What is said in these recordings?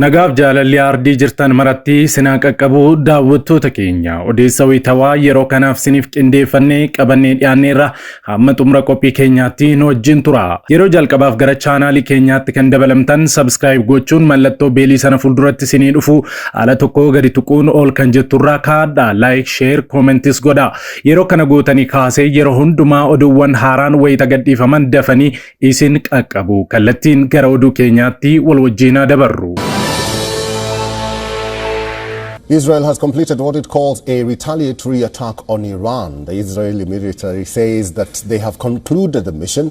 Nagaaf jaalalli aardii jirtan maratti sinaa qaqqabu daawwattoota keenya odeessa wayitawaa yeroo kanaaf siniif qindeeffannee qabannee dhiyaanneerra Hamma xumura qophii keenyaatti nu wajjin tura. Yeroo jalqabaaf gara chaanaalii keenyaatti kan dabalamtan subscribe gochuun mallattoo beelii sana fuulduratti isinii dhufu ala tokko gadi tuquun ol kan jetturraa kaadha. Like, share, comments godha. Yeroo kana gootanii kaasee yeroo hundumaa oduuwwan haaraan wayita gadhiifaman dafanii isin qaqqabu. Kallattiin gara oduu keenyaatti wal wajjiin haa dabarru. Israel has completed what it calls a retaliatory attack on Iran. The Israeli military says that they have concluded the mission.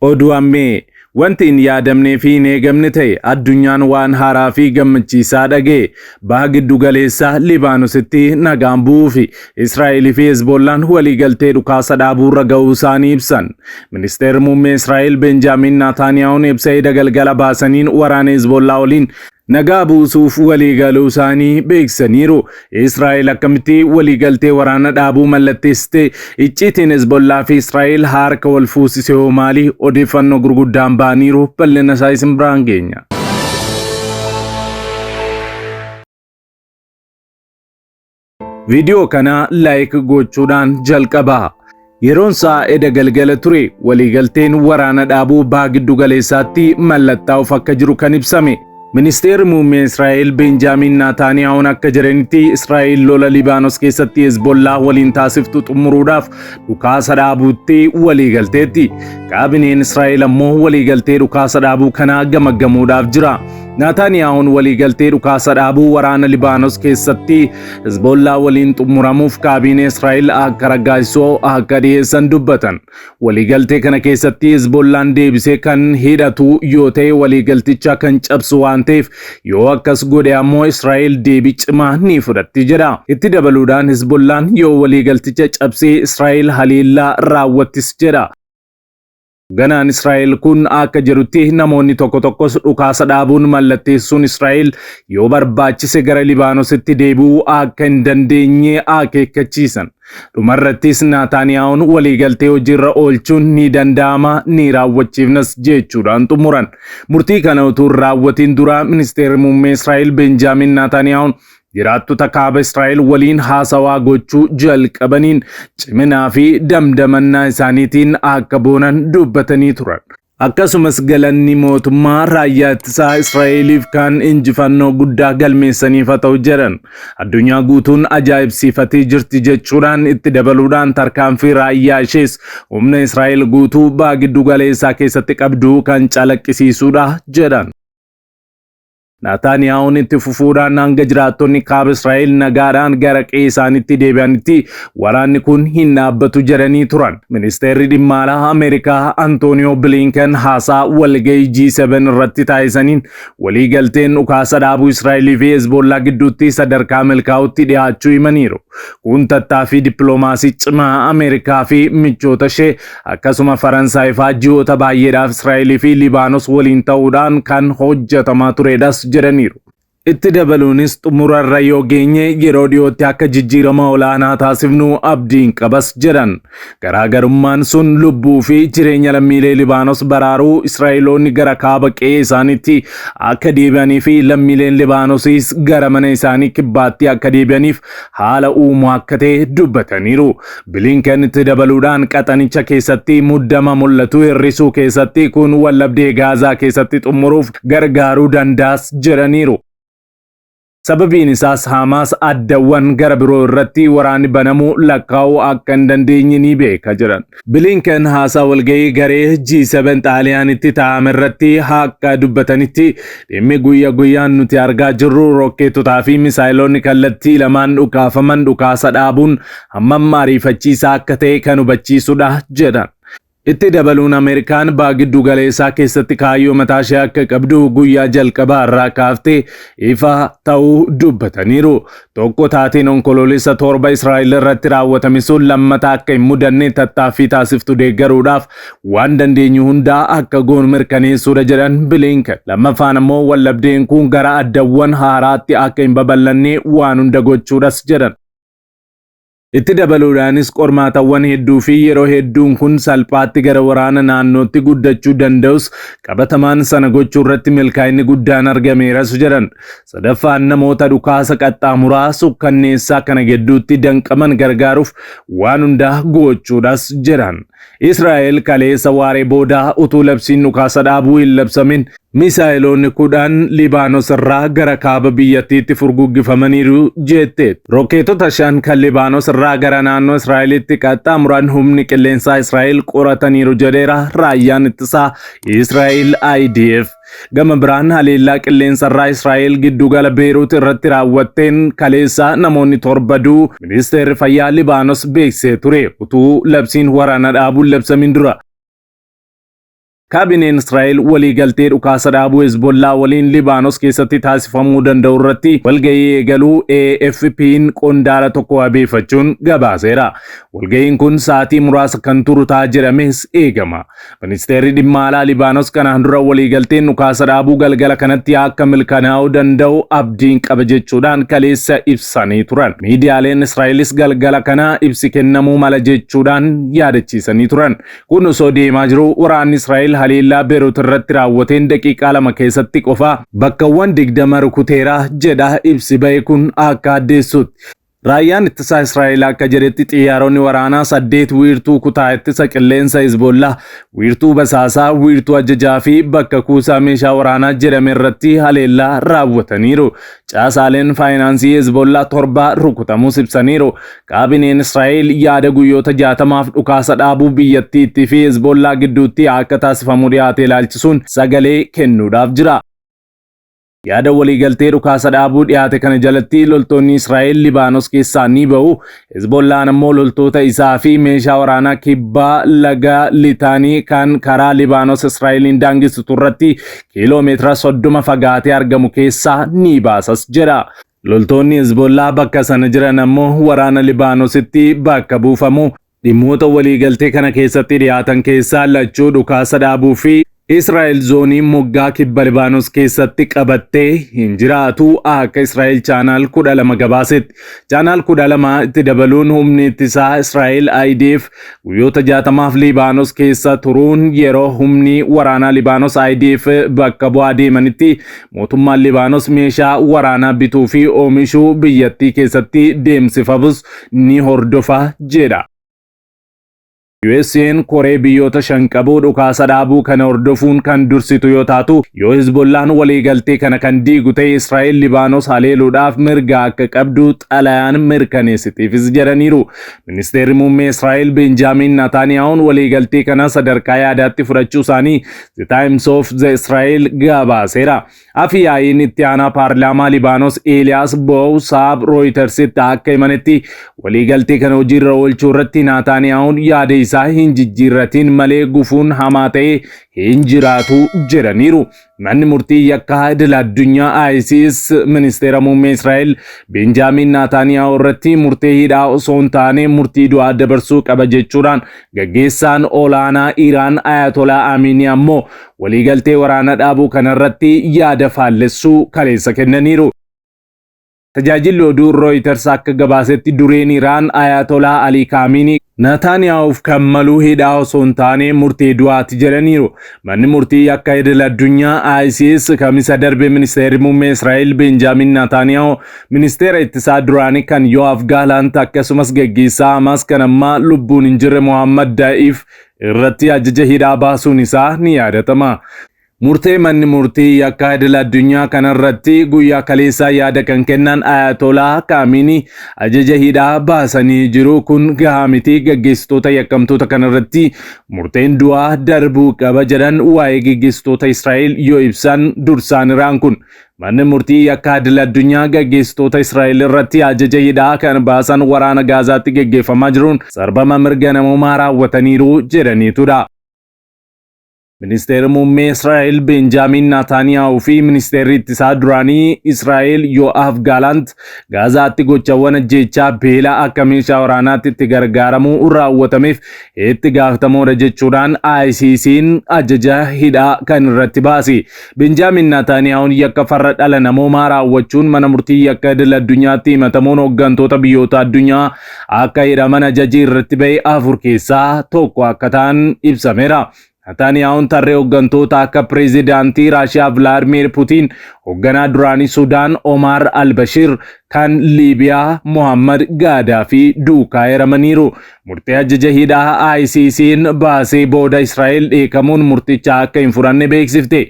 Oduu Ammee! Wanti hin yaadamnee fi hin eegamne ta'e, addunyaan waan haaraa fi gammachiisaa dhaga'e. Baha Giddu Galeessaa, Libaanositti nagaan bu'uu fi Israa'el fi Hezboollaan waliigaltee dhukaasa dhaabuu irra ga'uu isaanii ibsan. Ministeerri Muummee Israa'el Benjaamiin Naataaniyaahuun ibsa eda galgala baasaniin waraana Hezboollaa waliin nagaa buusuuf waliigaluusaanii beeksisaniiru. Israa'el akkamitti waliigaltee waraana dhaabuu mallatteessite? Icciitiin Hezbollaa fi Israa'el harka wal fuusise hoo maali? Odeeffannoo gurguddaan ba'aniiru bal'ina isaa isin biraan geenya. Viidiyoo kana laayik gochuudhaan jalqabaa. Yeroon isaa eda galgala ture waliigalteen waraana dhaabuu baha giddu galeessaatti mallattaa'uuf akka jiru kan ibsame. Ministeerri muummee Israa'el Beenjaamiin Naataaniyaa'uun akka jiranitti Israa'el lola Libaanos keessatti Hezbollaa waliin taasiftu xumuruudhaaf dhukaasa dhaabuutti waliigalteetti. Kaabineen Israa'el ammoo waliigaltee dhukaasa dhaabuu kanaa gamaggamuudhaaf jira. Naataaniyaahuun waliigaltee dhukaasa dhaabuu waraana Libaanos keessatti Hizboollaa waliin xumuramuuf kaabiinee Israa'el akka raggaasisoo akka dhiyeessan dubbatan. Waliigaltee kana keessatti Hizboollaan deebisee kan hidhatu yoo ta'e waliigalticha kan cabsu waan ta'eef yoo akkas godhe ammoo Israa'el deebii cimaa ni fudhatti jedha. Itti dabaluudhaan Hizboollaan yoo waliigalticha cabsee Israa'el haleellaa raawwattis jedha. Ganaan Israa'el kun akka jedhutti namoonni tokko tokkos dhukaasa dhaabuun mallatteessuun Israa'el yoo barbaachise gara Libaanositti deebi'uu akka hin dandeenye akeekkachiisan. Dhumarrattis Naataaniyaa'oon waliigaltee hojiirra oolchuun ni danda'ama ni raawwachiifnas jechuudhaan xumuran. Murtii kana utuu hin raawwatiin dura ministeerri muummee Israa'el Benjaamin Naataaniyaa'oon jiraattota kaaba Israa'el waliin haasawaa gochuu jalqabaniin ciminaa fi damdamannaa isaaniitiin akka boonan dubbatanii turan. Akkasumas galanni mootummaa raayyaa ittisaa Israa'eliif kan injifannoo guddaa galmeessaniif haa ta'u jedhan. Addunyaa guutuun ajaa'ibsiifatee jirti jechuudhaan itti dabaluudhaan tarkaanfii raayyaa ishees humna Israa'el guutuu baagiddu galeessaa keessatti qabdu kan calaqqisiisuudha jedhan. Naataaniyaawun itti fufuudhaan hanga jiraattonni kaaba Israa'el nagaadhaan gara qe'ee isaanitti deebi'anitti waraanni kun hin dhaabbatu jedhanii turan. Ministeerri dhimma alaa Ameerikaa Antooniyoo Biliinkan haasaa walga'ii G7 irratti taasisaniin waliigalteen dhukaasa dhaabuu Israa'elii fi Hezbollaa gidduutti sadarkaa milkaa'utti dhiyaachuu himaniiru. Kun tattaaffii dippiloomaasii cimaa Ameerikaa fi michoota ishee Akkasuma Faransaay faa ji'oota baay'eedhaaf Israa'elii fi Libaanos waliin ta'uudhaan kan hojjetamaa turedhas jedhaniiru. Itti dabaluunis xumurarra yoo geenye yeroo dhiyootti akka jijjiirama olaanaa taasifnu abdiin qabas jedhan. Garaagarummaan sun lubbuu fi jireenya lammiilee Libaanos baraaruu Israa'eloonni gara kaaba qe'ee isaaniitti akka deebi'anii fi lammiileen Libaanosiis gara mana isaanii kibbaatti akka deebi'aniif haala uumu akka ta'e dubbataniiru. Bilinken itti dabaluudhaan qaxanicha keessatti muddama mul'atu hir'isuu keessatti kun wallabdee Gaazaa keessatti xumuruuf gargaaruu dandaas jedhaniiru. Sababiin isaas Haamaas addawwan gara biroo irratti waraanni banamuu lakkaa'uu akka hin dandeenye ni beeka jedhan. Bilinken haasaa walga'ii garee G7 Xaaliyaanitti taa'ame irratti haqa dubbatanitti dhimmi guyya guyyaan nuti argaa jirru rookkeetotaa fi misaayiloonni kallattii lamaan dhukaafaman dhukaasa dhaabuun hammam ariifachiisaa akka ta'e kan hubachiisudha jedhan. Itti dabaluun Ameerikaan baha giddu galeessaa keessatti kaayyoo mataa ishee akka qabdu guyyaa jalqabaa irraa kaaftee ifa ta'uu dubbataniiru. Tokko taateen Onkoloolessa 7 Israa'el irratti raawwatame sun lammata akka hin mudanne tattaaffii taasiftu deeggaruudhaaf waan dandeenyu hundaa akka goonu mirkaneessuudha jedhan Bilinken. Lammaffaan ammoo waldhabdeen kun gara addawwan haaraatti akka hin babal'anne waan hunda gochuudhas jedhan. Itti dabaluudhaanis qormaatawwan hedduu fi yeroo hedduun kun salphaatti gara waraana naannootti guddachuu danda'us qabatamaan sana gochuu irratti milkaa'inni guddaan argameeras jedhan. Sadaffaan namoota dhukaasa qaxxaamuraa sukkanneessaa kana gidduutti danqaman gargaaruuf waan hundaa gochuudhas jedhan. Israa'el kaleessa waaree booda utuu labsiin dhukaasa dhaabuu hin labsamin Misaayeloonni kudhan Libaanos irraa gara kaaba biyyattiitti furguggifamaniiru jetteetti. Rokkeetota shan kan Libaanos irraa gara naannoo Israa'elitti qaxxaamuran humni qilleensaa Israa'el qorataniiru jedheera raayyaan ittisaa Israa'el IDF. Gama biraan haleellaa qilleensa irraa Israa'el giddugala Beeruut irratti raawwatteen kaleessa namoonni torba du'u ministeerri fayyaa Libaanos beeksisee ture utuu labsiin waraana dhaabuun labsamiin dura. Kaabineen Israa'el waliigaltee dhukaasa dhaabuu Hezbollaa waliin Libaanos keessatti taasifamuu danda'u irratti walgahii eegaluu AFP'n qondaala tokko wabeeffachuun gabaaseera. Walgahiin kun sa'aatii muraasa kan turu ta'a jedhamees eegama. Ministeerri dhimma alaa Libaanos kanaan dura waliigalteen dhukaasa dhaabuu galgala kanatti akka milkanaa'uu danda'u abdiin qaba jechuudhaan kaleessa ibsanii turan. Miidiyaaleen Israa'elis galgala kana ibsi kennamuu mala jechuudhaan yaadachiisanii turan. Kun osoo deemaa jiruu waraanni Israa'el haleellaa Beerut irratti raawwateen daqiiqaa lama keessatti qofa bakkawwan digdama rukuteera jedha ibsi ba'e kun akka addeessutti. Raayyaan ittisaa Israa'el akka jedhetti xiyyaaronni waraanaa saddeet wiirtuu kutaa ittisa qilleensa Hezbollaa, wiirtuu basaasaa, wiirtuu ajajaa fi bakka kuusaa meeshaa waraanaa jedhame irratti haleellaa raawwataniiru. Caasaaleen faayinaansii Hezbollaa torba rukutamuus ibsaniiru. Kaabineen Israa'el yaada guyyoota jaatamaaf dhukaasa dhaabuu biyyattiitti fi Hezbollaa gidduutti akka taasifamu dhiyaate ilaalchisuun sagalee kennuudhaaf jira. Yaada waliigaltee dhukaasa dhaabuu dhiyaate kana jalatti loltoonni Israa'el Libaanos keessaa ni ba'u, Hezbollaan ammoo loltoota isaa fi meeshaa waraanaa kibbaa laga Litaanii kan karaa Libaanos Israa'eliin daangessitu irratti kiiloo meetira soddoma fagaatee argamu keessaa ni baasas jedha. Loltoonni Hezbollaa bakka sana jiran ammoo waraana Libaanositti bakka buufamu. Dhimmoota waliigaltee kana keessatti dhiyaatan keessaa lachuu dhukaasa dhaabuu fi Israa'el zoonii moggaa kibba Libaanos keessatti qabattee hin jiraatu akka Israa'el chaanaal kudha lama gabaasetti. Chaanaal kudha lama itti dabaluun humni ittisaa Israa'el IDF guyyoota jaatamaaf Libaanos keessa turuun yeroo humni waraanaa Libaanos IDF bakka bu'aa deemanitti mootummaan Libaanos meeshaa waraanaa bituu fi oomishuu biyyattii keessatti deemsifabus ni hordofa jedha. USA'n koree biyyoota shan qabu dhukaasa dhaabuu kana hordofuun kan dursitu yoo taatu, yoo Hizbollaan waliigaltee kana kan diigu ta'e Israa'el Libaanos haleeluudhaaf mirga akka qabdu xalayaan mirkaneessitiifis jedhaniiru. Ministeerri Muummee Israa'el Benjaamiin Nataaniyaahun waliigaltee kana sadarkaa yaadaatti fudhachuu isaanii The Times of the Israel gabaaseera. Afi yaa'iin itti aanaa paarlaamaa Libaanos Eeliyaas Boow Saab Rooyitarsitti akka himanitti waliigaltee kana hojiirra oolchuu irratti Naataaniyaawun yaada isaa hin jijjiirratiin malee gufuun hamaa ta'e hin jiraatu jedhaniiru. Manni murtii yakka idil addunyaa ICS ministeera muummee Israa'el Benjaamiin Naataaniyaawuu irratti murtee hidhaa osoo hin taane murtii du'aa dabarsuu qaba jechuudhaan gaggeessaan olaanaa Iraan Ayatolaa Amiinii ammoo waliigaltee waraana dhaabuu kanarratti yaada faallessuu kaleessa kennaniiru. Tajaajilli oduu Rooyiters akka gabaasetti dureen Iraan Ayaatolaa Alii Kaamiinii Naataaniyaawuuf kan malu hidhaa osoo hin taane murtee du'aati jedhaniiru. Manni murtii yakka idil addunyaa ICS kamisa darbe ministeerri muummee Israa'el Benjaamin Naataaniyaahu ministeera ittisaa duraanii kan Yo'aaf Gaalant akkasumas gaggeessaa Hamaas kan ammaa lubbuun hin jirre Mohammad Da'iif irratti ajaja hidhaa baasuun isaa ni yaadatama. Murtee manni murtii yakkaa idil addunyaa kanarratti guyyaa kaleessaa yaada kan kennan Ayatolaa Kaamiinii ajaja hidhaa baasanii jiru kun gahaa miti gaggeessitoota yakkamtoota kanarratti murteen du'aa darbuu qaba jedhan waa'ee gaggeessitoota Israa'el yoo ibsan dursaaniraan kun Manni murtii yakkaa idil addunyaa gaggeessitoota Israa'el irratti ajaja hidhaa kan baasan waraana Gaazaatti geggeeffamaa jiruun sarbama mirga namoomaa raawwataniiru jedhaniitudha. Ministeerri muummee Israa'el Beenjaamiin Naataaniyaahuu fi ministeerri ittisaa duraanii Israa'el Yoo'aaf Gaalaant Gaazaatti gochawwan ajjeechaa beela akka meeshaa waraanaatti itti gargaaramuu raawwatameef itti gaafatamoodha jechuudhaan ICC'n ajaja hidhaa kan irratti baase. Benjaamin Naataaniyaahun yakka farra dhala namoomaa raawwachuun mana murtii yakka idil addunyaatti himatamuun hooggantoota biyyoota addunyaa akka hidhaman ajaji irratti ba'e afur keessaa tokko akka ta'an ibsameera. Naataaniyaahun tarree hooggantoota akka pireezidaantii Raashiyaa Vilaadmiir Putiin, hoogganaa duraanii Sudaan Omaar Albashiir, kan Liibiyaa Mohammad Gaadaafii duukaa hiramaniiru. Murtee ajjaja hidhaa ICC'n baasee booda Israa'el dheekamuun murticha akka hin furanne beeksifte.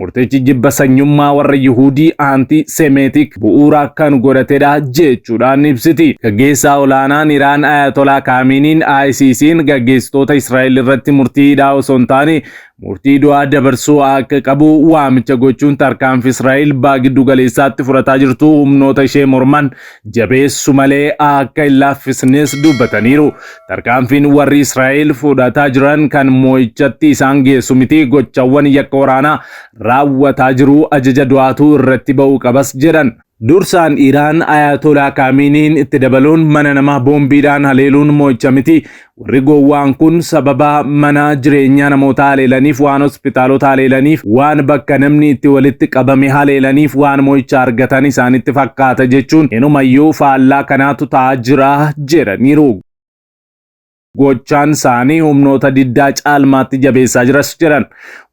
Murtichi jibba sanyummaa warra Yihudii aantii Semeetik bu'uura kan godhatedha jechuudhaan ibsiti. Gaggeessaa olaanaan Iraan Ayatolaa Kaamiiniin ICC'n gaggeessitoota Israa'el irratti murtii hidhaa osoo hin taane murtii du'aa dabarsuu akka qabu waamicha gochuun tarkaanfi Israa'el baha giddu galeessaatti fudhataa jirtu humnoota ishee morman jabeessu malee akka hin laaffisnes dubbataniiru. Tarkaanfiin warri Israa'el fudhataa jiran kan moo'ichatti isaan geessu miti gochawwan yakka waraanaa raawwataa jiru ajaja du'aatu irratti ba'uu qabas jedhan. Dursaan Iraan Ayaatolaa Kaamiiniin itti dabaluun mana namaa boombiidhaan haleeluun mo'icha miti. Warri gowwaan kun sababa mana jireenyaa namootaa haleelaniif, waan hospitaalota haleelaniif, waan bakka namni itti walitti qabame haleelaniif waan mo'icha argatan isaanitti fakkaata jechuun inumayyuu faallaa kanaatu ta'aa jira jedhaniiru. Gochaan isaanii humnoota diddaa caalmaatti jabeessaa jiras jedhan.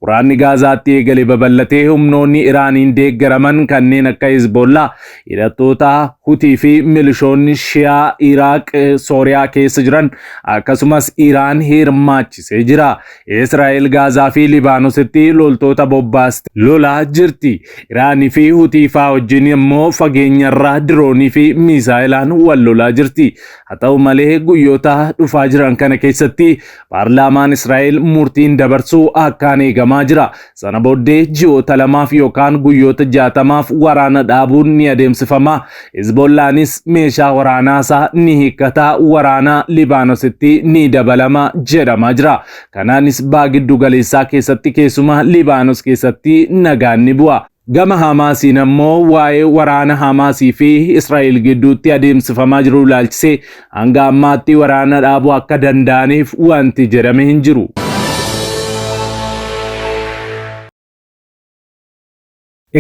Waraanni Gaazaatti eegale babal'atee humnoonni Iraaniin deeggaraman kanneen akka Hezbollaa, hidhattoota Hutii fi milishoonni Shiyaa Iraaq, Sooriyaa keessa jiran akkasumas Iraan hirmaachisee jira. Israa'el Gaazaa fi Libaanositti loltoota bobbaaste lolaa jirti. Iraanii fi Hutii faa wajjin immoo fageenyarraa diroonii fi miisaayilaan wal lolaa jirti. Haa ta'u malee guyyoota dhufaa jiran kana keessatti paarlaamaan Israa'el murtiin dabarsuu akkaan eegamaa jira. Sana booddee ji'oota lamaaf yookaan guyyoota jaatamaaf waraana dhaabuun ni adeemsifama. Hizbollaanis meeshaa waraanaasaa ni hiikkata, waraana Libaanositti ni dabalama jedhamaa jira. Kanaanis baa giddu galeessaa keessatti keessumaa Libaanos keessatti nagaan ni bu'a. Gama Hamaasiin ammoo waa'ee waraana Hamaasii fi Israa'el gidduutti adeemsifamaa jiru ilaalchisee hanga ammaatti waraana dhaabuu akka danda'aniif wanti jedhame hin jiru.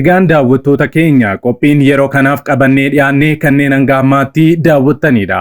Egaan daawwattoota keenya qophiin yeroo kanaaf qabannee dhiyaannee kanneen hanga ammaatti daawwattaniidha.